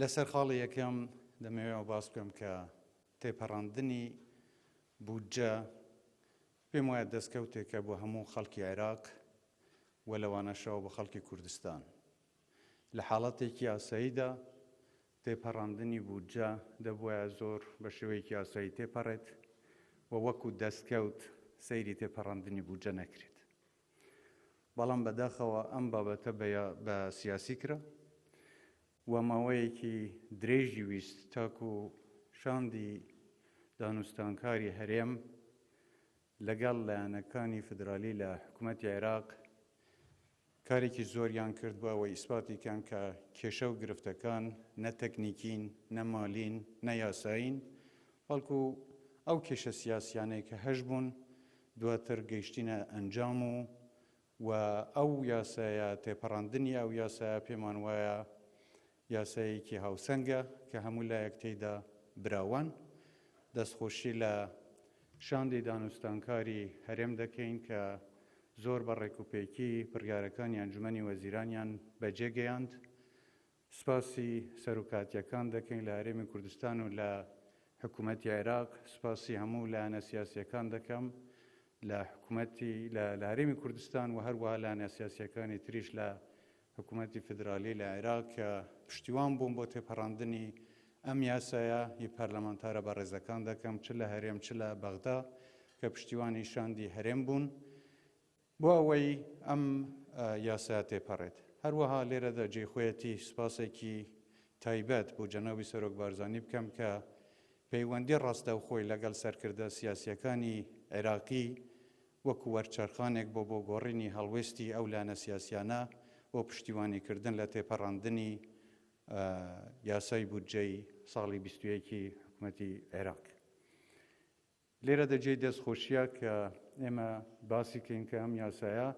لەسەر خاڵی یەکەم دەمەوێت ئەوە باس بکەم کە تێپەڕاندنی بودجە پێم وایە دەستکەوتێکە بۆ هەموو خەڵکی عێراق و لەوانەشەوە بۆ خەڵکی کوردستان لە حاڵەتێکی یاساییدا تێپەڕاندنی بودجە دەبواە زۆر بە شێوەیەکی یاسایی تێپەڕێت و وەکو دەستکەوت سەیری تێپەڕاندنی بودجە نەکرێت بەڵام بەداخەوە ئەم بابەتە بە سیاسی کرا و ماوەیەکی درێژی ویست تاکو شاندی دانوستانکاری هەرێم لەگەڵ لایەنەکانی فدرالی لە حکوومەتی عێراق کارێکی زۆریان کرد بۆ ئەوەی ئیسپاتی کەن کە کێشە و گرفتەکان نە تەکنیکین نە مالین نە یاسایین بەڵکو ئەو کێشە سیاسیانەی کە هەش بوون دواتر گەیشتینە ئەنجام و و ئەو یاسایە تێپەڕاندنی ئەو یاسایە پێمان وایە یاسایەکی هاوسەنگە کە هەموو لایەک تێیدا براوان. دەستخۆشی لە شاندی دانوستانکاری هەرێم دەکەین کە زۆر بە ڕێکوپێکی بڕیارەکانی ئەنجومەنی وەزیرانیان بەجێگەیاند. سوپاسی سەروکاتییەکان دەکەین لە هەرێمی کوردستان و لە حکوومەتی عێراق، سوپاسی هەموو لایەنە سیاسییەکان دەکەم لە حکوومەتی لە لە هەرێمی کوردستان و هەروەها لایەنە سیاسییەکانی تریش لە حکوومەتی فیدرالی لە عێراق کە پشتیوان بوون بۆ تێپەڕاندنی ئەم یاسایە ی پەرلەمانتارە بەڕێزەکان دەکەم چ لە هەرێم چ لە بەغدا کە پشتیوانی شاندی هەرێم بوون. بۆ ئەوەی ئەم یاسایە تێپەڕێت. هەروەها لێرەدا جێی خۆیەتی سوپاسێکی تایبەت بۆ جەنابی سەرۆک بارزانی بکەم کە پەیوەندی ڕاستەوخۆی لەگەڵ سەرکردە سیاسییەکانی عێراقی وەکو وەرچەرخانێک بۆ بۆ گۆڕینی هەڵوێستی ئەو لایەنە سیاسییانە بۆ پشتیوانیکردن لە تێپەڕاندنی یاسای بودجەی ساڵی بیست و یەک ی حکومەتی عێراق لێرەدا جێی دەست خۆشیە کە ئێمە باسی کەین کە ئەم یاسایە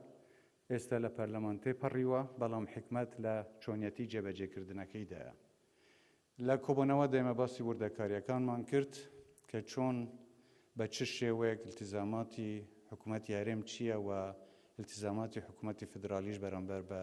ئێستا لە پەرلەمان تێپەڕیوە، بەڵام حیکمەت لە چۆنیەتی جێبەجێکردنەکەیدایە. لە کۆبۆنەوەدا ئێمە باسی وردەکاریەکانمان کرد کە چۆن بە چ شێوەیەک التزاماتی حکومەتی هەرێم چیە و التزاماتی حکومەتی فیدرالیش بەرامبەر بە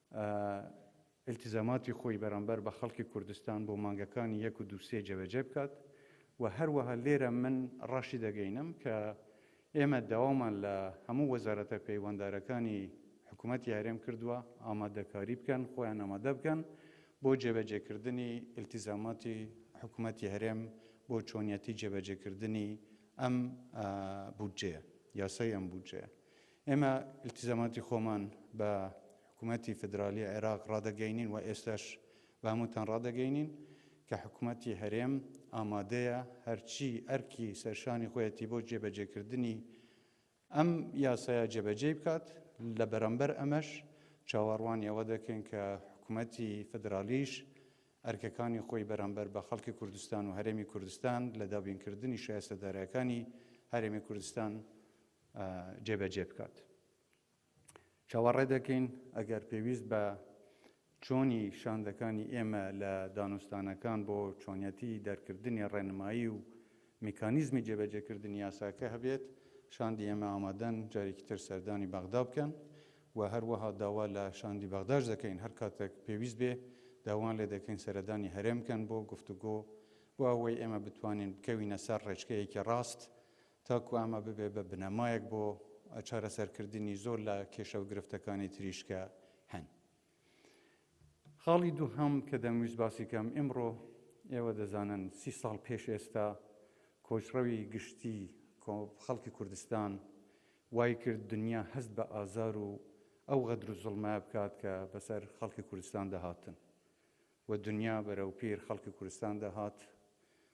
ئیلتیزاماتی خۆی بەرامبەر بە خەڵکی کوردستان بۆ مانگەکانی یەک و دوو سێ جێبەجێ بکات و هەروەها لێرە من ڕاشیدەگەینم کە ئێمە داوامان لە هەموو وەزارەتە پەیوەندارەکانی حکوومەتی هەرێم کردووە ئامادەکاری بکەن، خۆیان ئامادە بکەن بۆ جێبەجێکردنی ئیلتیزاماتی حکوومەتی هەرێم بۆ چۆنیەتی جێبەجێکردنی ئەم بودجەیە، یاسای ئەم بودجەیە. ئێمە ئیلتیزاماتی خۆمان بە حکوومەتی فیدراڵیی عێراق ڕادەگەینین و ئێستاش بە هەمووتان ڕادەگەینین کە حکوومەتی هەرێم ئامادەیە هەرچی ئەرکی سەرشانی خۆیەتی بۆ جێبەجێکردنی ئەم یاسایە جێبەجێی بکات، لە بەرامبەر ئەمەش چاوەڕوانی ئەوە دەکەین کە حکوومەتی فیدراڵیش ئەرکەکانی خۆی بەرامبەر بە خەڵکی کوردستان و هەرێمی کوردستان لە دابینکردنی شایستەدارەکانی هەرێمی کوردستان جێبەجێ بکات. چاوەڕێ دەکەین ئەگەر پێویست بە چۆنی شاندەکانی ئێمە لە دانوستانەکان بۆ چۆنیەتی دەرکردنی ڕێنمایی و میکانیزمی جێبەجێکردنی یاساکە هەبێت، شاندی ئێمە ئامادەن جارێکی تر سەردانی بەغدا بکەن و هەروەها داوا لە شاندی بەغداش دەکەین هەر کاتێک پێویست بێ داوان لێ دەکەین سەردانی هەرێم بکەن بۆ گفتوگۆ بۆ ئەوەی ئێمە بتوانین بکەوینە سەر ڕێچکەیەکی ڕاست تاکو ئەمە ببێت بە بنەمایەک بۆ چارەسەرکردنی زۆر لە کێشە و گرفتەکانی تریش کە هەن. خاڵی دووهەم کە دەمویست باسی بکەم، ئیمڕۆ ئێوە دەزانن سی ساڵ پێش ئێستا کۆچڕەوی گشتی خەڵکی کوردستان وای کرد دنیا هەست بە ئازار و ئەو غەدر و زوڵمە بکات کە بەسەر خەڵکی کوردستاندا هاتن و دنیا بەرەو پیر خەڵکی کوردستاندا هات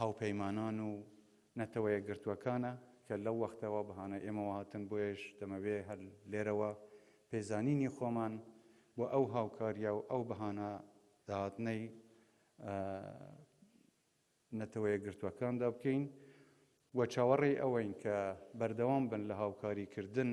هاوپەیمانان و نەتەوەیەکگرتووەکانە کە لەو وەختەوە بەهانای ئێمەوە هاتن، بۆیەش دەمەوێ هەر لێرەوە پێزانینی خۆمان بۆ ئەو هاوکارییە و ئەو بەهانە داهاتنەی نەتەوەیەکگرتووەکاندا بکەین و چاوەڕێی ئەوەین کە بەردەوام بن لە هاوکاریکردن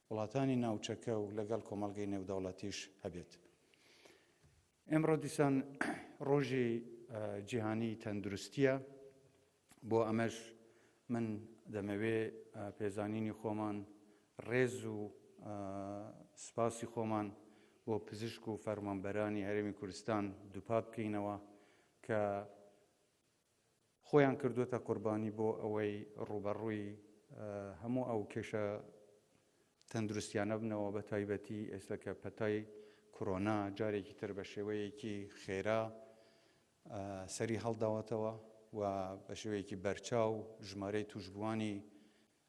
وڵاتانی ناوچەکە و لەگەڵ کۆمەڵگەی نێودەوڵەتیش هەبێت. ئێمڕۆ دیسان ڕۆژی جیهانی تەندروستیە بۆ ئەمەش من دەمەوێ پێزانینی خۆمان ڕێز و سپاسی خۆمان بۆ پزیشک و فەرمانبەرانی هەرێمی کوردستان دووپات بکەینەوە کە خۆیان کردووەتە قوربانی بۆ ئەوەی ڕووبەڕووی هەموو ئەو کێشە تەندروستیانە بنەوە بە تایبەتی ئێستا کە پەتای کۆرۆنا جارێکی تر بە شێوەیەکی خێرا سەری هەڵداوەتەوە و بە شێوەیەکی بەرچاو ژمارەی تووشبووانی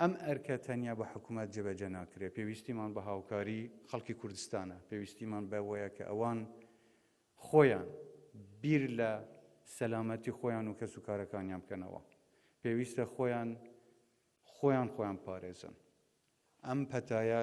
ئەم ئەرکە تەنیا بە حکومەت جێبەجێ ناکرێت، پێویستیمان بە هاوکاری خەڵکی کوردستانە، پێویستیمان بەوەیە کە ئەوان خۆیان بیر لە سەلامەتی خۆیان و کەسوکارەکانیان بکەنەوە، پێویستە خۆیان خۆیان خۆیان بپارێزن، ئەم پەتایە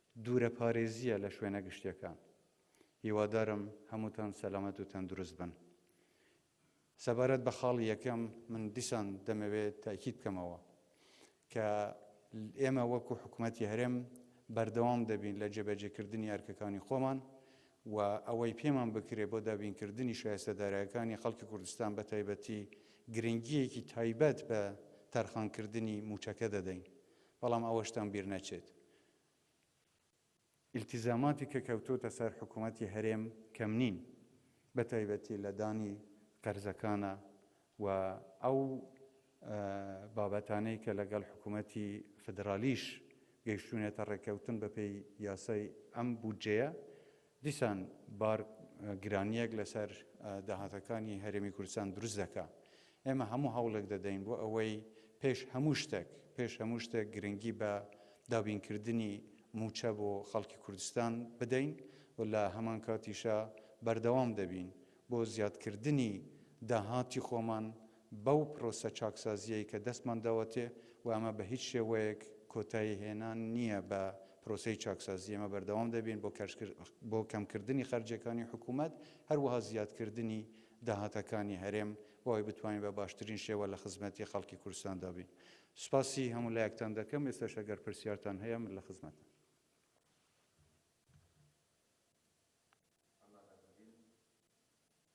دوورەپارێزییە لە شوێنە گشتییەکان. هیوادارم هەمووتان سەلامەت و تەندروست بن. سەبارەت بە خاڵی یەکەم، من دیسان دەمەوێت تەئکید بکەمەوە کە ئێمە وەکو حکومەتی هەرێم بەردەوام دەبین لە جێبەجێکردنی ئەرکەکانی خۆمان و ئەوەی پێمان بکرێت بۆ دابینکردنی شایستە دارایەکانی خەڵکی کوردستان بە تایبەتی گرنگییەکی تایبەت بە تەرخانکردنی مووچەکە دەدەین، بەڵام ئەوەشتان بیر نەچێت ئیلتیزاماتی کە کەوتۆتە سەر حکوومەتی هەرێم کەم نین، بەتایبەتی لە دانی قەرزەکانا و ئەو بابەتانەی کە لەگەڵ حکوومەتی فیدرالیش گەیشتوونەتە ڕێککەوتن بەپێی یاسای ئەم بودجەیە، دیسان بار گرانییەک لەسەر داهاتەکانی هەرێمی کوردستان دروست دەکا. ئێمە هەموو هەوڵێک دەدەین بۆ ئەوەی پێش هەموو شتێک، پێش هەموو شتێک گرنگی بە دابینکردنی مووچە بۆ خەڵکی کوردستان بدەین و لە هەمانکاتیشا بەردەوام دەبین بۆ زیادکردنی داهاتی خۆمان بەو پرۆسە چاکسازییەی کە دەستمان داوەتێ و ئەمە بە هیچ شێوەیەک کۆتایی هێنان نییە بە پرۆسەی چاکسازی، ئێمە بەردەوام دەبین بۆ کەش بۆ کەمکردنی خەرجییەکانی حکوومەت، هەروەها زیادکردنی داهاتەکانی هەرێم بۆ ئەوەی بتوانین بە باشترین شێوە لە خزمەتی خەڵکی کوردستاندا بین. سوپاسی هەموو لایەکتان دەکەم، ئێستاش ئەگەر پرسیارتان هەیە من لە خزمەتم.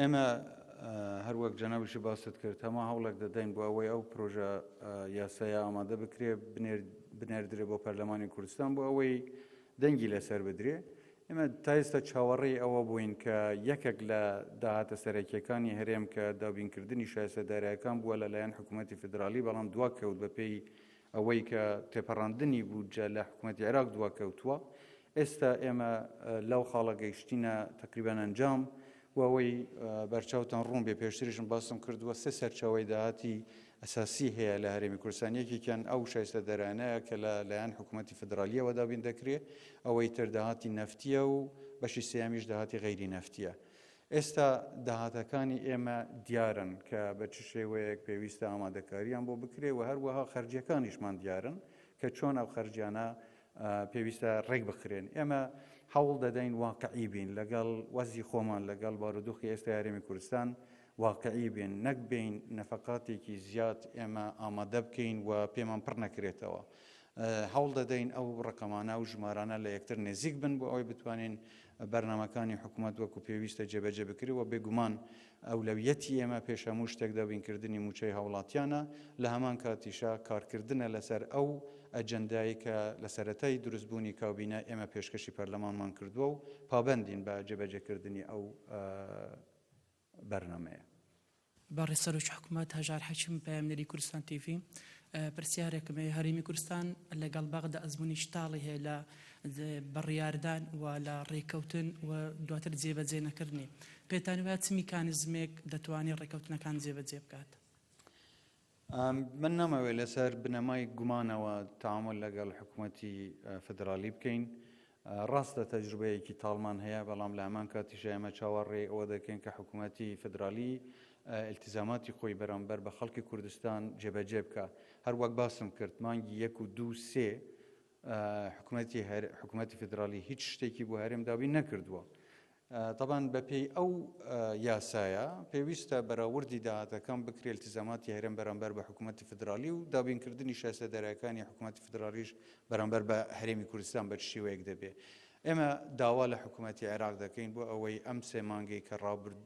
ئێمە هەر وەک جەنابیشی باست کرد هەموو هەوڵێک دەدەین بۆ ئەوەی ئەو پرۆژە یاسایە ئامادە بکرێ بنێردرێ بۆ پەرلەمانی کوردستان بۆ ئەوەی دەنگی لەسەر بدرێ ئێمە تایستە چاوەڕێی ئەوە بووین کە یەکێک لە داهاتە سەرەکیەکانی هەرێم کە دابینکردنی شایسەدارایەکان بووە لەلایەن حکوومەتتی فدرالی بەڵام دوا کەوت بەپێی ئەوەی کە تێپەڕاندنی بودجە لە حکومەتی عێراق دواکەوتووە، ئێستا ئێمە لەو خاڵە گەیشتینە تەقریبەن ئەنجام و ئەوەی بەرچاوتان ڕوون بێ پێشتریشم باسم کردووە سێ سەرچاوەی داهاتی ئەساسی هەیە لە هەرێمی کوردستان یەکێکیان ئەو شایستە دەرانەیە کە لە لایەن حکوومەتی فدرالیەوە دابین دەکرێ ئەوەی تر داهاتی نەفتیە و بەشی سێیامیش داهاتی غەیری نەفتیە ئێستا داهاتەکانی ئێمە دیارن کە بە چ شێوەیەک پێویستە ئامادەکارییان بۆ بکرێت و هەروەها خەرجییەکانیشمان دیارن کە چۆن ئەو خەرجیانە پێویستە ڕێک بخرێن ئێمە حەوڵ دەدەین واقعی بین لەگەڵ وەزی خۆمان لەگەڵ بارودۆخی ئێستا یارێمی کوردستان واقعی بێن نەک بین نەفقاتێکی زیاد ئێمە ئامادە بکەین و پێمان پڕ نەکرێتەوە هەوڵ دەدەین ئەو ڕقەمانە و ژمارانە لە یەکتر نزیک بن بۆ ئەوەی بتوانین بەرنامەکانی حکومەت وەکو پێویستە جێبەجێ بکرێت و بێگومان ئەولەویەتی ئێمە پێش هەموو شتێک دابین کردنی مووچەی هاوڵاتیانە، لە هەمان کاتیشا کارکردنە لەسەر ئەو ئەجەندایەی کە لە سەرەتای دروست بوونی کابینە ئێمە پێشکەشی پەرلەمانمان کردووە و پابەندین بە جێبەجێ کردنی ئەو بەرنامەیە. بەڕێز سەرۆکی حکومەت هەژار حەکیم پەیامنێری کوردستان تیڤی، پرسیارێکم هەیە هەرێمی کوردستان لەگەڵ بەغدا ئەزموونی چ تاڵی هەیە لە بڕیاردان و لە ڕێککەوتن و دواتر جێبەجێ نەکردنی، پێتان وایە چ میکانیزمێک دەتوانێت ڕێککەوتنەکان جێبەجێ بکات؟ من نامەوێت لەسەر بنەمای گومانەوە تامل لەگەڵ حکوومەتی فدرالی بکەین ڕاستە تەجروبەیەکی تاڵمان هەیە بەڵام لە هەمان کاتیش ئێمە چاوەڕێ ئەوە دەکەین کە حکوومەتی فدرالی التزاماتی خۆی بەرامبەر بە خەڵکی کوردستان جێبەجێ بکە هەروەک باسم کرد مانگی یەک و دوو سێ حکوومەتی حکوومەتی فدرالی هیچ شتێکی بۆ هەرێم دابین نەکردووە تەبان بە پێی ئەو یاسایە پێویستە بەراوردی داهاتەکان بکرێت التزاماتی هەرێم بەرامبەر بە حکوومەتی فدرالی و دابینکردنی شایستە دەرایەکانی حکوومەتی فدرالیش بەرامبەر بە هەرێمی کوردستان بە چ شێوەیەک دەبێ ئێمە داوا لە حکوومەتی عێراق دەکەین بۆ ئەوەی ئەم سێ مانگەی کە ڕابرد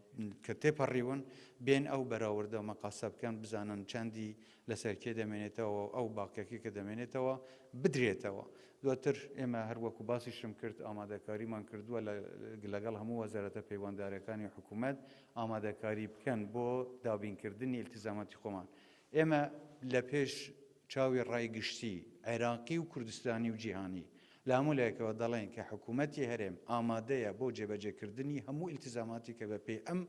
کە تێپەڕیون بێن ئەو بەراوردە مەقاسە بکەن بزانن چەندی لەسەر کێ دەمێنێتەوە و ئەو باقیەکەی کە دەمێنێتەوە بدرێتەوە. دواتر ئێمە هەر وەکو باسیشم کرد ئامادەکاریمان کردووە لە لەگەڵ هەموو وەزارەتە پەیوەندارەکانی حکوومەت ئامادەکاری بکەن بۆ دابینکردنی ئیلتیزاماتی خۆمان. ئێمە لە پێش چاوی ڕای گشتی عێراقی و کوردستانی و جیهانی لە هەموو لایەکەوە دەڵێین کە حکوومەتی هەرێم ئامادەیە بۆ جێبەجێکردنی هەموو ئیلتیزاماتی کە بە پێی ئەم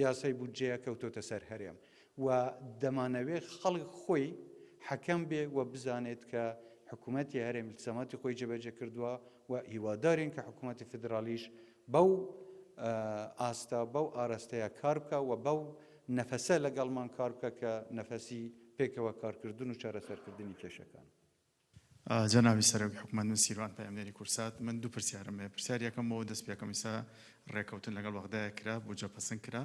یاسای بودجەیە کەوتۆتە سەر هەرێم و دەمانەوێت خەڵک خۆی حەکەم بێ و بزانێت کە حکومەتی هەرێم التزاماتی خۆی جێبەجێ کردووە و هیوادارین کە حکومەتی فیدراڵیش بەو ئاستە بەو ئاراستەیە کار بکە و بەو نەفەسە لەگەڵمان کار بکە کە نەفەسی پێکەوە کارکردن و چارەسەرکردنی کێشەکان. جەنابی سەرۆک حکومەت من سیروان پەیامنێری کورسات من دوو پرسیارم هەیە پرسیاری یەکەم بۆ ئەوە دەست پێکەم ئیستا ڕێکەوتن لەگەڵ بەغدایە کرا بودجە پەسند کرا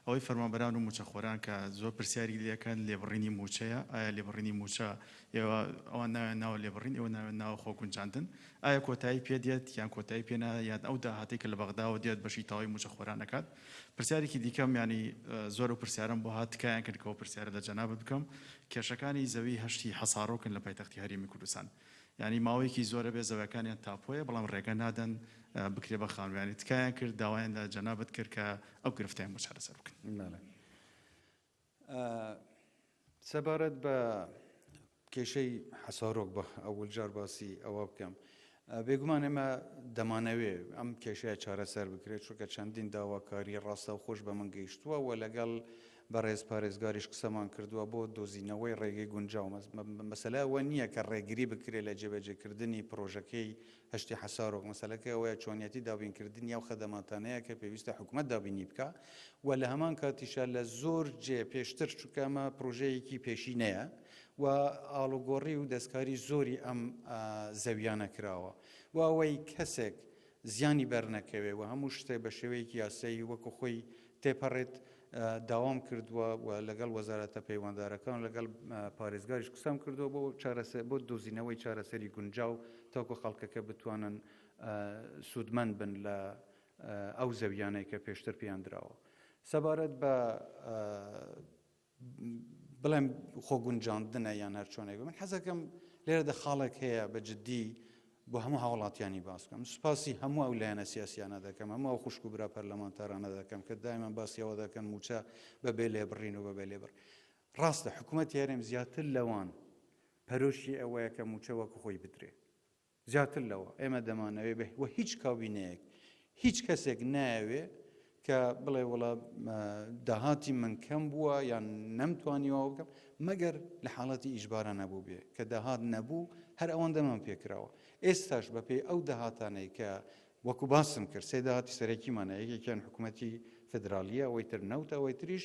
ئەوەی فەرمانبەران و موچەخۆران کە زۆر پرسیاری لەکەن لێبڕینی موچەیە ئایا لێبڕینی موچە ئێوە ئەوان ناوێن ناوە لێبڕین ئێوە ناوێن ناوە خۆ گونجاندن ئایا کۆتایی پێ دێت یان کۆتایی پێنا یان ئەو داهاتی کە لە بەغداوە دێت بەشی تەواوی موچەخۆران نەکات پرسیارێکی دیکەم یانی زۆر ئەو پرسیارەم بۆ هات تکایان کرد کەەوە پرسیارە لە جەنابت بکەم کێشەکانی زەوی هەشتی حەسارۆکن لە پایتەختی هەرێمی کوردستان یانی ماوەیەکی زۆرە بێ زەوەکانیان تاپۆیە بەڵام ڕێگە نادەن بکرێ بە خانویانی تکایان کرد داوایان لە جەنابت کرد کە ئەو گرفتیان بۆ چارەسەر بکەن سەبارەت بە کێشەی حەسارۆک بە ئەول جار باسی ئەوە بکەم بێگومان ئێمە دەمانەوێ ئەم کێشەیە چارەسەر بکرێت چونکە چەندین داواکاری ڕاستە و خۆش بە من گەیشتووە و لەگەڵ بەڕێز پارێزگاریش قسەمان کردووە بۆ دۆزینەوەی ڕێگەی گونجاو مەسلەوە نییە کە ڕێگری بکرێت لە جێبەجێکردنی پرۆژەکەی هەشتی حەسارۆک، مەسەلەکە ئەوەیە چۆنیەتی دابینکردنی ئەو خەدەماتانەیە کە پێویستە حکومەت دابینی بکا و لە هەمان کاتیشا لە زۆر جێ پێشتر چونکە ئەمە پرۆژەیەکی پێشینەیە و ئاڵوگۆڕی و دەستکاری زۆری ئەم زەویانە کراوە و ئەوەی کەسێک زیانی بەرنەکەوێ و هەموو شتێ بە شێوەیەکی یاسایی وەکو خۆی تێپەڕێت، داوام کردووە و لەگەڵ وەزارەتە پەیوەندارەکان و لەگەڵ پارێزگاریش قسەم کردووە بۆ چارەسەر بۆ دۆزینەوەی چارەسەری گونجاو تاکو خەڵکەکە بتوانن سوودمەند بن لە ئەو زەویانەی کە پێشتر پێیان دراوە سەبارەت بە بڵێم خۆ گونجاندنە یان هەر چۆنێک من حەزەکەم لێرەدە خاڵێک هەیە بە جددی بۆ هەموو هاوڵاتیانی باس بکەم سوپاسی هەموو ئەو لایەنە سیاسیانە دەکەم هەموو ئەو خوشک و برا پەرلەمانتارانە دەکەم کە دایمان باسیەوە دەکەن موچە بە بێ لێبڕین و بە بێ لێبڕ ڕاستە حکوومەت یارێم زیاتر لەوان پەرۆشی ئەوەیە کە موچە وەکو خۆی بدرێ زیاتر لەوە ئێمە دەمانەوێ بێ و هیچ کابینەیەک، هیچ کەسێک نایەوێ کە بڵێ وەڵا داهاتی من کەم بووە یان نەمتوانیەوە بکەم مەگەر لە حاڵەتی ئیشبارە نەبوو بێ کە داهات نەبوو هەر ئەوەن دەمان پێکراوە ئێستاش بەپێی ئەو داهاتانەی کە وەکو باسم کرد سێ داهاتی سەرەکیمانە یەکێکیان حکوومەتی فدراالیە ئەوەی تر نەوت ئەوەی تریش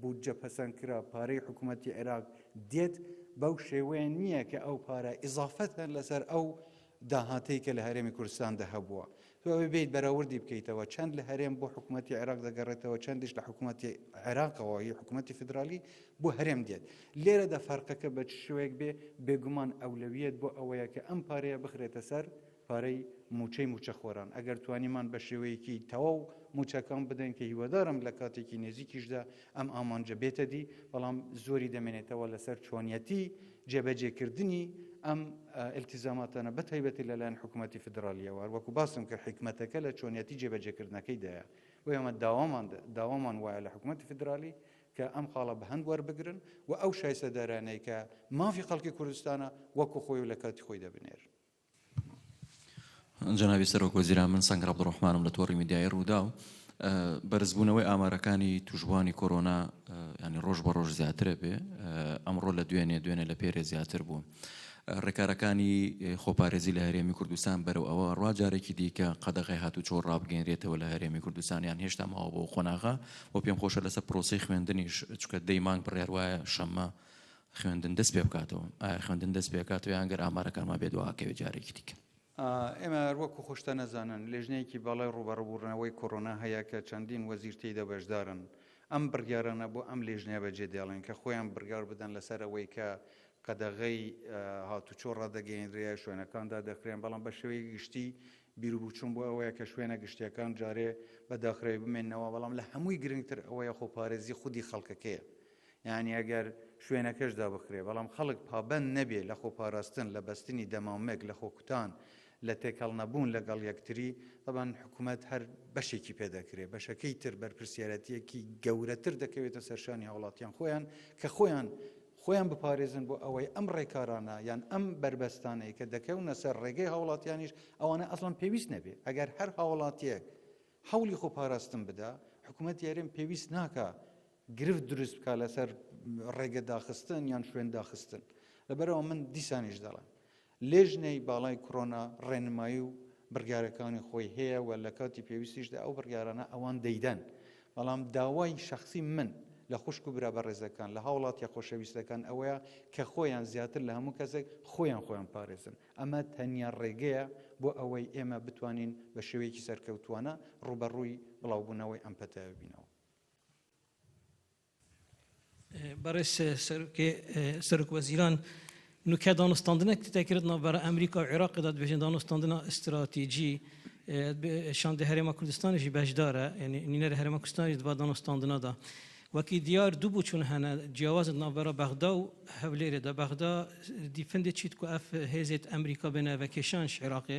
بودجە پەسەند کرا پارەی حکومەتی عێراق دێت بەو شێوەیە نییە کە ئەو پارە ئیزافەتە لەسەر ئەو داهاتەی کە لە هەرێمی کوردستاندا هەبووە تۆ ئەوێ بێیت بەراوردی بکەیتەوە چەند لە هەرێم بۆ حکوومەتتی عێراق دەگەڕێتەوە چەندیش لە حکوومەتتی عێراقەوە هی حکوومەتتی فدرالی بۆ هەرێم دێت لێرەدا فەرقەکە بە شوێک بێ بێگومان ئەولەویەت بۆ ئەوەیە کە ئەم پارەیە بخرێتە سەر پارەی مووچەی مووچەخۆران، ئەگەر توانیمان بە شێوەیەکی تەواو مووچەکان بدەین، کە هیوادارم لە کاتێکی نێزیکیشدا ئەم ئامانجە بێتەدی، بەڵام زۆری دەمێنێتەوە لەسەر چۆنیەتی جێبەجێکردنی ئەم ئیلتیزاماتانە بە تایبەتی لەلایەن حکوومەتی فیدراڵییەوە، هەروەکو باسم کرد حیکمەتەکە لە چۆنیەتی جێبەجێکردنەکەیدایە، بۆیە ئێمە داوامان داوامان وایە لە حکوومەتی فیدراڵی کە ئەم خاڵە بە هەند وەربگرن و ئەو شایستەدارانەی کە مافی خەڵکی کوردستانە وەکو خۆی و لە کاتی خۆی دەبنێر. جەنابی سەرۆک وەزیران، من سەنگەر عەبدولڕەحمانم لە تۆڕی میدیایی رووداو. بەرزبوونەوەی ئامارەکانی تووشبووانی کۆرۆنا یانی رۆژ بە رۆژ زیاترە بێ، ئەمڕۆ لە دوێنێ، دوێنێ لە پێرێ زیاتر بوو. رێکارەکانی خۆپارێزی لە هەرێمی کوردستان بەرەو ئەوە روا جارێکی دیکە قەدەغەی هاتووچۆ رابگەینرێتەوە لە هەرێمی کوردستان یان هێشتا ماوە بۆ ئەو قۆناغە؟ وە پێم خۆشە لەسەر پرۆسەی خوێندنیش، چونکە دە ی مانگ بڕیار وایە شەممە خوێندن دەست پێ بکاتەوە؟ ئایا خوێندن دەست پێ ئەکاتەوە یان گەر ئامارەکانمان بێ دوا ئەکەوێ جارێکی دیکە؟ ئێمە هەر وەکو خوشتە نەزانن لێژنەیەکی باڵای ڕووبەڕووبوونەوەی کۆرۆنا هەیە کە چەندین وەزیر تێیدا بەشدارن، ئەم بڕیارانە بۆ ئەم لێژنەیە بەجێ دێڵێن کە خۆیان بڕیار بدەن لەسەر ئەوەی کە قەدەغەی هاتوچۆ ڕادەگەیەنرێ یا شوێنەکان دادەخرێن، بەڵام بە شێوەیەکی گشتی بیروبووچوون بۆ ئەوەیە کە شوێنە گشتییەکان جارێ بە داخراوی بمێننەوە، بەڵام لە هەمووی گرنگتر ئەوەیە خۆپارێزی خودی خەڵکەکەیە. یانی ئەگەر شوێنەکەش دابخرێ بەڵام خەڵک پابەند نەبێ لە خۆپاراستن، لە بەستنی دەمامک، لە خۆکوتان، لە تێکەڵ نەبوون لەگەڵ یەکتری، تەبعەن حکومەت هەر بەشێکی پێ دەکرێ، بەشەکەی تر بەرپرسیارەتییەکی گەورەتر دەکەوێتە سەر شانی هاوڵاتیان خۆیان کە خۆیان خۆیان بپارێزن بۆ ئەوەی ئەم ڕێکارانە یان ئەم بەربەستانەی کە دەکەونە سەر ڕێگەی هاوڵاتیانیش ئەوانە ئەسڵەن پێویست نەبێ ئەگەر هەر هاوڵاتیەک حەولی خۆپاراستن بدا حکومەت یارێم پێویست ناکا گرفت دروست بکات لەسەر ڕێگە داخستن یان شوێن داخستن لەبەرەوە من دیسانیش دەڵێن لێژنەی باڵای کۆرۆنا ڕێنمایی و بڕیارەکانی خۆی هەیە و لە کاتی پێویستیشدا ئەو بڕیارانە ئەوان دەیدەن بەڵام داوای شخصی من لە خوشک و برا بەڕێزەکان لە هاوڵاتیە خۆشەویستەکان ئەوەیە کە خۆیان زیاتر لە هەموو کەسێک خۆیان خۆیان پارێزن ئەمە تەنیا ڕێگەیە بۆ ئەوەی ئێمە بتوانین بە شێوەیەکی سەرکەوتوانە ڕوبەڕووی بڵاوبوونەوەی ئەم پەتایە بینەوە بەڕێز سەرۆک وەزیران، نوکە دانوستاندنە کردنە ناوبرا ئەمریکا و عێراق دا دبێژن دانوستاندنە ئستراتیجی شاند هەرێما کوردستانیشی بەشدارە یعنی نینەر هەرێما کوردستانیش دبا دانوستاندنە دا وەکی دیار دوو بوو چون هەنە جیاوازت ناوبرا بەغدا و هەولێرێ دا بەغدا دیفندێ چیت کو ئەف هێزێت ئەمریکا بێنە ڤەکێشانش عێراقێ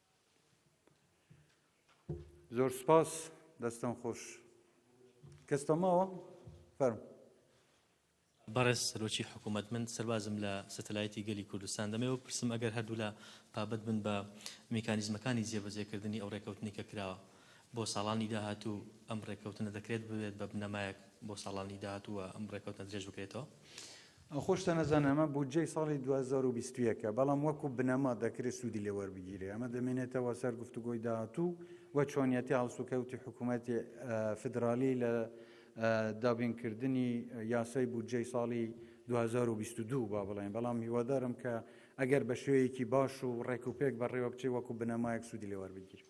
زۆر سپاس دەستان خۆش کەس تەماوە فەرم بەڕێز سەرۆکی حکوومەت من سەربازم لە سەتەلایەتی گەلی کوردستان دەمەوە پرسم ئەگەر هەردوولا پابەت بن بە میکانیزمەکانی جێبەجێکردنی ئەو ڕێکەوتنی کە کراوە بۆ ساڵانی داهاتوو ئەم ڕێککەوتنە دەکرێت ببێت بە بنەمایەک بۆ ساڵانی داهاتوو و ئەم ڕێککەوتنە درێژ بکرێتەوە. ئەخۆ شتە نەزانە ئەمە بودجەی ساڵی دوو هەزار و بیست و یەک ە، بەڵام وەکو بنەما دەکرێت سوودی لێ وەربگیرێت. ئەمە دەمێنێتەوە سەر گفتوگۆی داهاتوو و چۆنیەتی هەڵسوکەوتی حکومەتی فیدرالی لە دابینکردنی یاسای بودجەی ساڵی دوو هەزار و بیست و دوو با بڵێین، بەڵام هیوادارم کە ئەگەر بە شێوەیەکی باش و ڕێکوپێک بەڕێوەبچێت وەکو بنەمایەک سوودی لێ وەربگیرێت.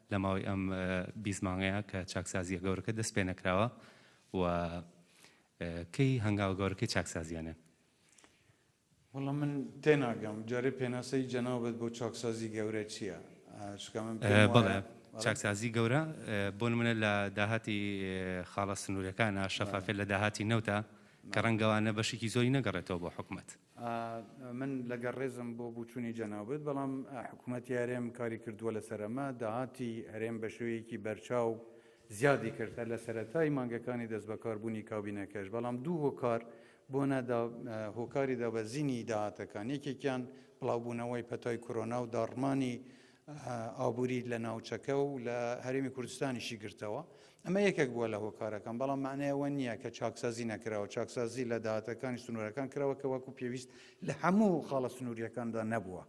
لە ماوەی ئەم بیست مانگەیا کە چاکسازییە گەورەکە دەست پێ نەکراوە و کەی هەنگاوە گەورەکەی چاکسازییانێن؟ وەڵا من تێناگەم جارێ پێناسەی جەنابت بۆ چاکسازی گەورە چییە؟ چونکە من پێم وایە بەڵێ چاکسازی گەورە بۆ نمونە لە داهاتی خاڵە سنوورەکانە، شەفافیەت لە داهاتی نەوتە کە ڕەنگە وانە بەشێکی زۆری نەگەڕێتەوە بۆ حکومەت. من لەگەر ڕێزم بۆ بوچونی جەنابت بەڵام حکوومەتی هەرێم کاری کردووە لەسەر ئەمە داهاتی هەرێم بە شێوەیەکی بەرچاو زیادی کرد هەر لە سەرەتای مانگەکانی دەست بەکاربوونی کابینەکەش بەڵام دوو هۆکار بۆ نەدا هۆکاری دابەزینی داهاتەکان یەکێکیان بڵاوبوونەوەی پەتای کۆرۆنا و داڕمانی ئابووری لە ناوچەکە و لە هەرێمی کوردستانیشی گرتەوە ئەمە یەکێک بووە لە هۆکارەکان بەڵام معنای ئەوە نییە کە چاکسازی نەکراوە چاکسازی لە داهاتەکانی سنوورەکان کراوە کە وەکو پێویست لە هەموو خاڵە سنووریەکاندا نەبووە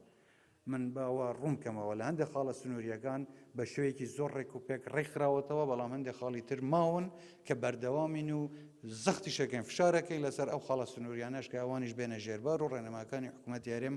من باوە ڕوونکەمەوە لە هەندێک خاڵە سنووریەکان بە شوەیەکی زۆر ڕێک و پێک ڕێکخراوەتەوە بەڵام هەندێک خاڵی تر ماون کە بەردەوامین و زەختی شەکەین فشارەکەین لەسەر ئەو خاڵە سنووریانەش کە ئەوانیش بێنە ژێربار و ڕێنەماکانی حکوومەت یارێم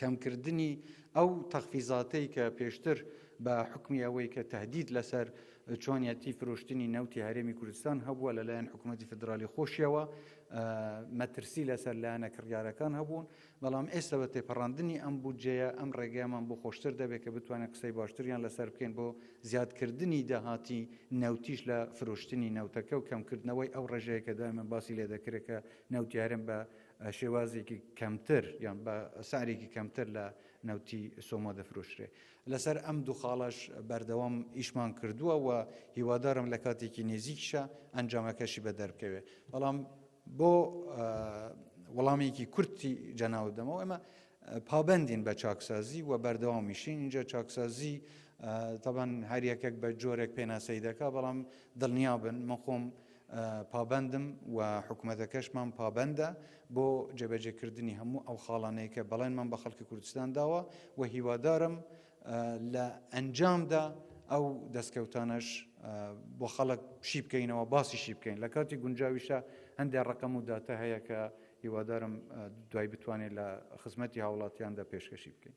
کەمکردنی ئەو تەخفیزاتەی کە پێشتر بە حکمی ئەوەی کە تهدید لەسەر چۆنیەتی فرۆشتنی نەوتی هەرێمی کوردستان هەبووە لەلایەن حکوومەتتی فدرالی خۆشیەوە مەترسی لەسەر لایەنە کڕیارەکان هەبوون بەڵام ئێستا بە تێپەڕاندنی ئەم بودجەیە ئەم ڕێگەیەمان بۆ خۆشتر دەبێت کە بتوانێت قسەی باشتریان لەسەر بکەین بۆ زیادکردنی داهاتی نەوتیش لە فرۆشتنی نەوتەکە و کەمکردنەوەی ئەو ڕێژەیە کە دایمە باسی لێ دەکرێت کە نەوتیارن بە شێوازێکی کەمتر یان بە سعرێکی کەمتر لە نەوتی سۆمۆ دەفرۆشرێ لەسەر ئەم دوو خاڵەش بەردەوام ئیشمان کردووە و هیوادارم لە کاتێکی نێزیکشە ئەنجامەکەشی بە دەربکەوێت بەڵام بۆ وەڵامێکی کورتی جەناوت دەمەوە ئەمە پابندین بە چاکسازی و بەردەوامیشین اینجا چاکسازی تەبەن هەریەکەک بە جۆرێک پێناسەی دەکا بەڵام دڵنیابن من خۆم پابەندم و حکومەتەکەشمان پابەندە بۆ جێبەجێکردنی هەموو ئەو خاڵانەی کە بەڵێنمان بە خەڵکی کوردستان داوە و هیوادارم لە ئەنجامدا ئەو دەستکەوتانەش بۆ خەڵک شی بکەینەوە باسی شی بکەین لە کاتی گونجاویشە هەندێک ڕقم و داتە هەیە کە هیوادارم دوای بتوانێت لە خزمەتی هاوڵاتیاندا پێشکەشی بکەین.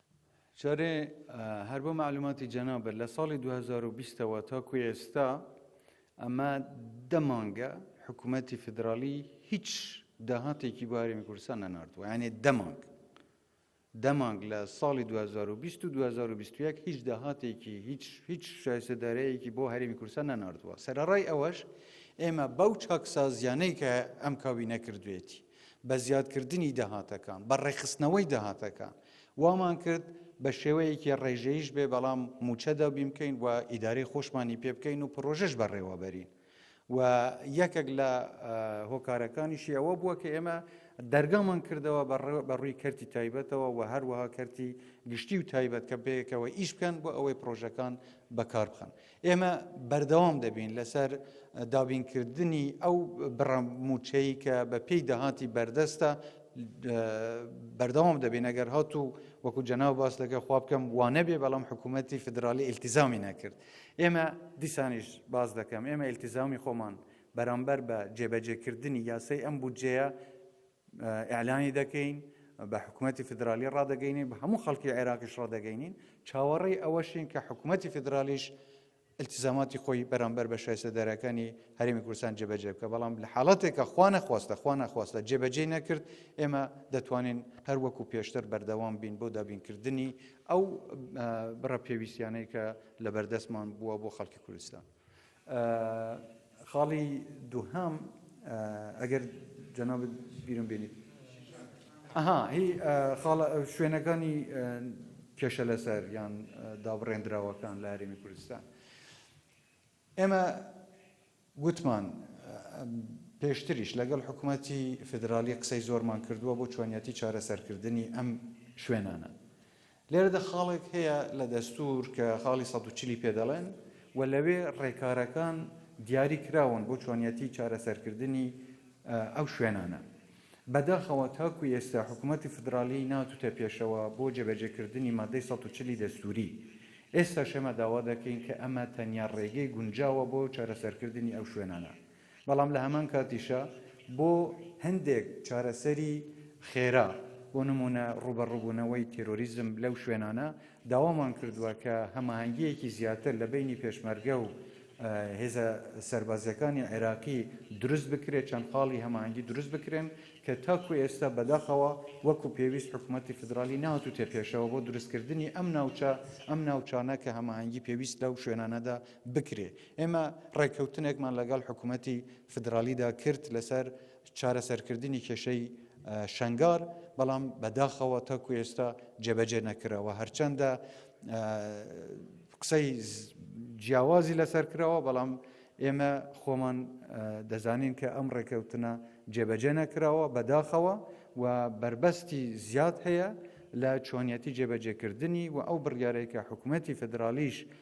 جارێ هەر بۆ معلوماتی جەنابت لە ساڵی 2020ەوە تاکو ئێستا ئەمە دە مانگە حکوومەتی فدرالی هیچ داهاتێکی بۆ هەرێمی کوردستان نەناردووە یانێ دە مانگ دە مانگ لە ساڵی 2020 و 2021 هیچ داهاتێکی هیچ هیچ شایسەدارەیەکی بۆ هەرێمی کوردستان نەناردووە سەرڕای ئەوەش ئێمە بەو چاکسازیانەی کە ئەم کاوی نەکردوێتی بە زیادکردنی داهاتەکان، بە ڕێکخستنەوەی داهاتەکان، وامان کرد بە شێوەیەکی ڕێژەییش بێ بەڵام مووچە دابین بکەین و ئیدارەی خۆشمانی پێ بکەین و پڕۆژەش بەڕێوە بەرین و یەکێک لە هۆکارەکانیشی ئەوە بووە کە ئێمە دەرگامان کردەوە بە ڕووی کەرتی تایبەتەوە و هەروەها کەرتی گشتی و تایبەت کە بەیەکەوە ئیش بکەن بۆ ئەوەی پرۆژەکان بەکار بخەن ئێمە بەردەوام دەبین لەسەر دابینکردنی ئەو بڕە موچەی کە بە پێی داهاتی بەردەستە بەردەوام دەبین ئەگەر هات و وەکو جەناو باس لەگە خوا بکەم وانە بێ بەڵام حکوومەتتی فدرالی ئیلتیزامی نەکرد ئێمە دیسانیش باز دەکەم ئێمە ئیلتیزامی خۆمان بەرامبەر بە جێبەجێکردنی یاسای ئەم بودجەیە ئیعلانی دەکەین، بە حکومەتی فیدرالی ڕادەگەینین، بە هەموو خەڵکی عێراقیش ڕادەگەینین، چاوەڕێی ئەوەشین کە حکومەتی فیدرالیش التزاماتی خۆی بەرامبەر بە شایستەدارەکانی هەرێمی کوردستان جێبەجێ بکە بەڵام لە حاڵەتێکە خوا نەخواستە خوا نەخواستە جێبەجێ نەکرد ئێمە دەتوانین هەر وەکو پێشتر بەردەوام بین بۆ دابینکردنی ئەو بڕە پێویستیانەی کە لە بەردەستمان بووە بۆ خەڵکی کوردستان. خاڵی دووهەم ئەگەر جەنابت بیرم بێنیت. ئەها هی خاڵە شوێنەکانی کێشە لەسەر یان دابڕێندراوەکان لە هەرێمی کوردستان ئێمە گوتمان پێشتریش لەگەڵ حکوومەتی فیدراالی قسەی زۆرمان کردووە بۆ چۆنیەتی چارەسەرکردنی ئەم شوێنانە لێرەدا خاڵێک هەیە لە دەستوور کە خاڵی سەد و چل ی پێ دەڵێن و لەوێ ڕێکارەکان دیاری کراون بۆ چۆنیەتی چارەسەرکردنی ئەو شوێنانە. بەداخەوە تاکو ئێستا حکوومەتی فیدراڵی ناتوتە پێشەوە بۆ جێبەجێکردنی مادەی سەد و چل ی دەستووری. ئێستاش ئێمە داوا دەکەین کە ئەمە تەنیا ڕێگەی گونجاوە بۆ چارەسەرکردنی ئەو شوێنانە. بەڵام لە هەمان کاتیشا بۆ هەندێک چارەسەری خێرا، بۆ نموونە ڕووبەڕووبوونەوەی تێرۆریزم لەو شوێنانە، داوامان کردووە کە هەماهەنگییەکی زیاتر لە بەینی پێشمەرگە و هێزە سەربازییەکانی عێراقی دروست بکرێت، چەند خاڵی هەماهەنگی دروست بکرێن کە تاکوو ئێستا بەداخەوە وەکوو پێویست حکوومەتی فیدراڵی نەهاتووتە پێشەوە بۆ دروستکردنی ئەم ناوچە، ئەم ناوچانە کە هەماهەنگی پێویست لەو شوێنانەدا بکرێ. ئێمە ڕێککەوتنێکمان لەگەڵ حکوومەتی فیدراڵیدا کرد لەسەر چارەسەرکردنی کێشەی شەنگار، بەڵام بەداخەوە تاکو ئێستا جێبەجێ نەکراوە. هەرچەندە قسەی جیاوازی لەسەر کراوە، بەڵام ئێمە خۆمان دەزانین کە ئەم ڕێککەوتنە جێبەجێ نەکراوە بەداخەوە و بربەستی زیاد هەیە لە چۆنیەتی جێبەجێکردنی و ئەو بڕیارەی کە حکوومەتی فدرالیش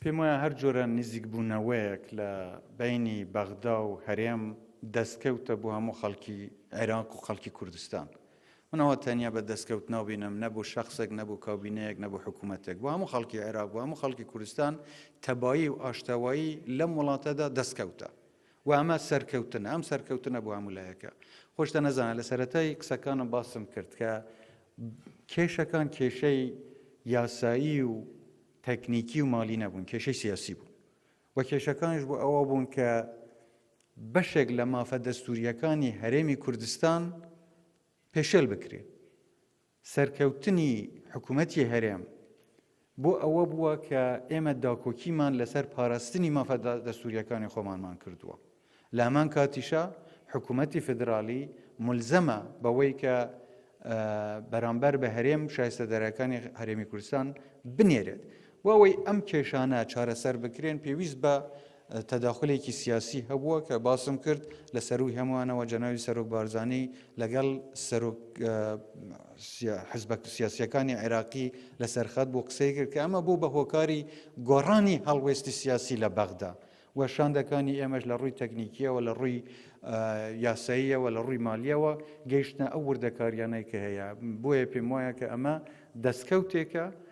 پێم وایە هەر جۆرە نزیکبوونەوەیەک لە بەینی بەغدا و هەرێم دەستکەوتە بۆ هەموو خەڵکی عێراق و خەڵکی کوردستان منەوە تەنیا بە دەستکەوت ناوبینم نەبوو شخصێک نەبوو کاوبینەیەک نەبوو حکوومەتێک بۆ هەموو خەڵکی عێراق بۆ هەموو خەڵکی کوردستان تەبایی و ئاشتەوایی لەم وڵاتەدا دەستکەوتە و ئەمە سەرکەوتنە، ئەم سەرکەوتنە بۆ هەموو لایەکە. خۆشتە نەزانە لە سەرەتای قسەکانم باسم کرد کە کێشەکان کێشەی یاسایی و تەکنیکی و مالی نەبوون، کێشەی سیاسی بوون. و کێشەکانش بۆ ئەوە بوون کە بەشێک لە مافە دەستوریەکانی هەرێمی کوردستان پێشێل بکرێت. سەرکەوتنی حکومەتی هەرێم بۆ ئەوە بووە کە ئێمە داکۆکیمان لەسەر پاراستنی مافە دەستوورییەکانی خۆمانمان کردووە، لە هەمان کاتیشا حکومەتی فیدراڵی مولزەمە بەوەی کە بەرامبەر بە هەرێم شایستەدارەکانی هەرێمی کوردستان بنێرێت بۆ ئەوەی ئەم کێشانە چارەسەر بکرێن پێویست بە تەداخولێکی سیاسی هەبووە کە باسم کرد، لە سەرووی هەمووانەوە جەنابی سەرۆک بارزانی لەگەڵ سەرۆک حزبە سیاسییەکانی عێراقی لەسەر خەت بوو قسەی کرد کە ئەمە بوو بە هۆکاری گۆڕانی هەڵوێستی سیاسی لە بەغدا و شاندەکانی ئێمەش لە ڕووی تەکنیکیەوە لە ڕووی یاساییەوە لە ڕووی مالیەوە گەیشتە ئەو وردەکاریانەی کە هەیە بۆیە پێم وایە کە ئەمە دەستکەوتێکە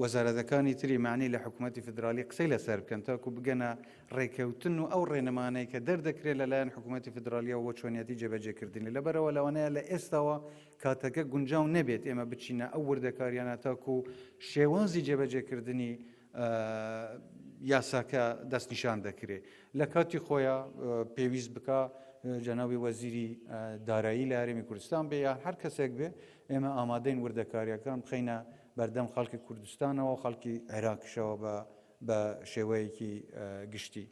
وەزارەتەکانی تری مەعنی لە حکومەتی فیدراڵی قسەی لەسەر بکەن تاکو بگەنە ڕێکەوتن و ئەو ڕێنمانەی کە دەردەکرێت لەلایەن حکومەتی فیدراڵیەوە بۆ چۆنیەتی جێبەجێکردنی لەبەرەوە لەوانەیە لە ئێستاوە کاتەکە گونجاو نەبێت ئێمە بچینە ئەو وردەکاریانە تاکو شێوازی جێبەجێکردنی یاساکە دەستنیشان دەکرێت لە کاتی خۆیە پێویست بکە جەناوی وەزیری دارایی لە هەرێمی کوردستان بێ یا هەر کەسێک بێ ئێمە ئامادەین وردەکارییەکان بخەینە بەردەم خەڵکی کوردستانەوە و خەڵکی عێراقیشەوە بە بە شێوەیەکی گشتی.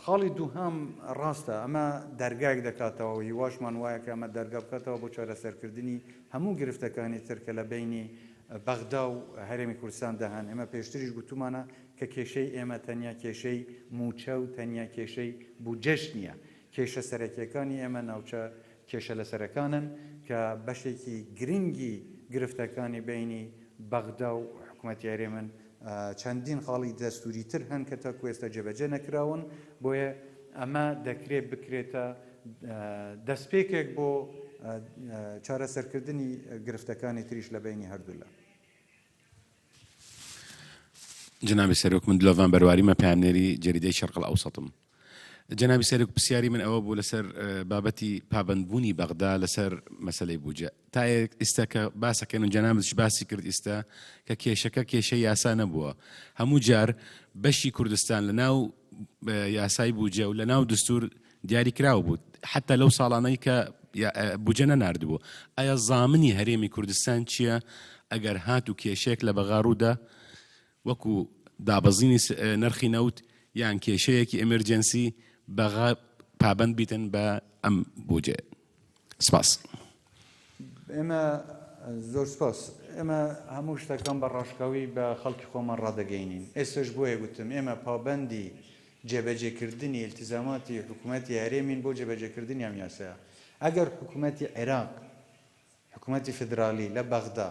خاڵی دووهام ڕاستە ئەمە دەرگایەک دەکاتەوە و هیواشمان وایە کە ئەمە دەرگا بکاتەوە بۆ چارەسەرکردنی هەموو گرفتەکانی تر کە لە بینی بەغدا و هەرێمی کوردستان دەهان ئێمە پێشتریش گوتومانە کە کێشەی ئێمە تەنیا کێشەی موچە و تەنیا کێشەی بودجەش نییە کێشە سەرەکیەکانی ئێمە ناوچە کێشە لەسەرەکانن کە بەشێکی گرنگی گرفتەکانی بەینی بەغدا و حکومەتی هەرێمن، چەندین خاڵی دەستووری تر هەن کە تاکو ئێستا جێبەجێ نەکراون، بۆیە ئەمە دەکرێت بکرێتە دەستپێکێک بۆ چارەسەرکردنی گرفتەکانی تریش لە بەینی هەردوولا. جەنابی سەرۆک، من دلۆڤان بەرواری مە، پەیامنێری جەریدەی شەرقەڵئەوسەتم. جەنابی سەرۆک پرسیاری من ئەوە بوو لەسەر بابەتی پابندبوونی بەغدا لەسەر مەسلەی بوجە تا ئێستا کە باسەکەن و جەنابش باسی کرد ئیستا کە کێشەکە کێشە یاسا نەبووە هەموو جار بەشی کوردستان لە ناو یاسای بوجە و لە ناو دستور دیاری کراوە بوو حتا لەو ساڵانەی کە بجە نەناردبوو ئایا زامنی هەرێمی کوردستان چییە ئەگەر هات و کێشێک لە بەغاڕوودا وەکو دابەزینی نرخی نەوت یان کێشەیەکی ئێمێرجێنسی بەغا پابەند بیتن بە ئەم بودجەیە. سپاس. ئێمە زۆر سپاس. ئێمە هەموو شتەکان بە ڕاشکاوی بە خەڵکی خۆمان ڕادەگەینین. ئێستەش بۆیە گوتم ئێمە پابەندی جێبەجێکردنی ئیلتیزاماتی حکومەتی هەرێمین بۆ جێبەجێکردنی ئەم یاسایە. ئەگەر حکومەتی عێراق، حکومەتی فیدرالی لە بەغدا،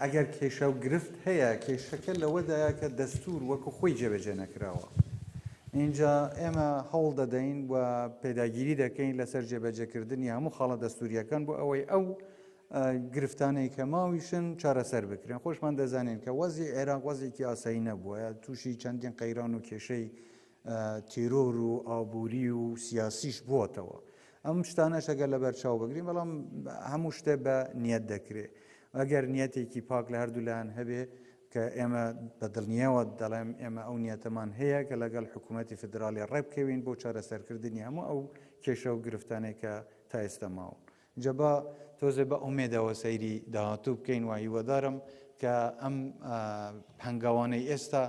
ئەگەر کێشە و گرفت هەیە، کێشەکە لەوەدایە کە دەستوور وەکو خۆی جێبەجێ نەکراوە. ئینجا ئێمە هەوڵ دەدەین و پێداگیری دەکەین لەسەر جێبەجێکردنی هەموو خاڵە دەستوورییەکان بۆ ئەوەی ئەو گرفتانەی کە ماویشن چارەسەر بکرێن. خۆشمان دەزانین کە وەزعی عێراق وەزعێکی ئاسایی نەبووە، تووشی چەندین قەیران و کێشەی تیرۆر و ئابووری و سیاسیش بووەتەوە ئەم شتانەش ئەگەر لەبەر چاو بگرین بەڵام هەموو شتێ بە نیەت دەکرێت ئەگەر نیەتێکی پاک لە هەردوولایەن هەبێ کە ئێمە بە دڵنیەوە دەڵێم ئێمە ئەو نیەتەمان هەیە کە لەگەڵ حکوومەتتی فدراالی ڕێبکەوین بۆ چارەسەرکردنی هەموو ئەو کێشە و گرفتانێکە تا ئێستا ماون جا با تۆزێ بە ئومێدەوە سەیری داهاتوو بکەین و هیوادارم کە ئەم هەنگاوانەی ئێستا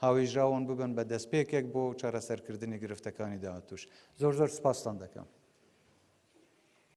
هاوێژراون ببن بە دەستپێکێک بۆ چارەسەرکردنی گرفتەکانی داهاتووش زۆر زۆر سپاستان دەکەم.